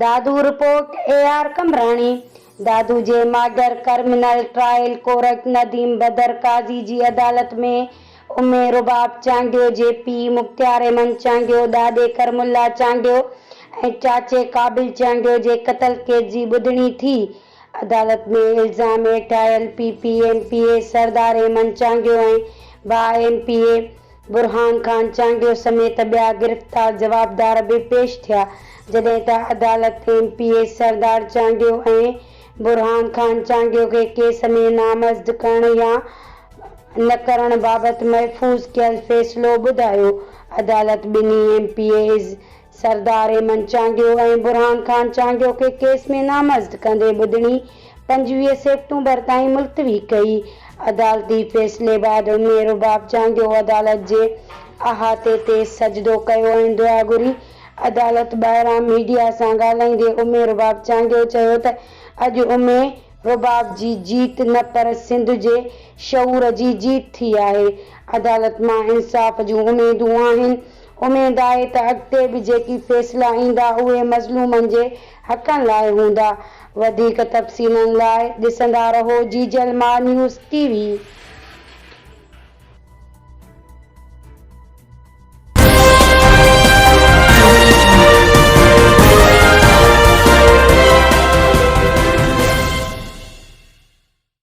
Dadu report, A R Qambrani, Dadu جي model criminal trial court Nadeem Badar Qazi جي عدالت ۾ امي رباب چانڊيو جي پيء مختيار احمد چانڊيو، ڏاڏي ڪرم الله چانڊيو ۽ چاچي قابل چانڊيو جي قتل ڪيس جي ٻڌڻي ٿي، عدالت ۾ الزام هيٺ آيل P P M P A Sardar Aiman Changio ۽ ڀاء M P A Burhan Khan Changio سميت ٻيا گرفتار جوابدار به پيش ٿيا جڏهن ته عدالت M P A Sardar Changio ۽ برهان خان چانگيو کي ڪيس ۾ نامزد ڪرڻ يا نه ڪرڻ بابت محفوظ ڪيل فيصلو ٻڌايو عدالت ٻنهي M P As Sardar Aiman Changio ۽ برهان خان چانگيو کي ڪيس ۾ نامزد ڪندي ٻڌڻي پنجويهه سيپٽمبر تائين ملتوي ڪئي. عدالتي فيصلي بعد ام رباب چانگيو عدالت جي احاطي تي سجدو ڪيو ۽ دعا گهري. عدالت ٻاهران ميڊيا سان ڳالهائيندي ام رباب چانگيو چيو ته اڄ ام رباب جي جيت نه پر سنڌ جي شعور جي جيت ٿي آهي. عدالت مان انصاف جون اميدون آهن اميد آهي ته اڳتي به جيڪي فيصلا ايندا اهي مظلومن جي حقن لاء هوندا. وڌيڪ تفصيلن لاء ڏسندا رهو Jeejal Maa news T V.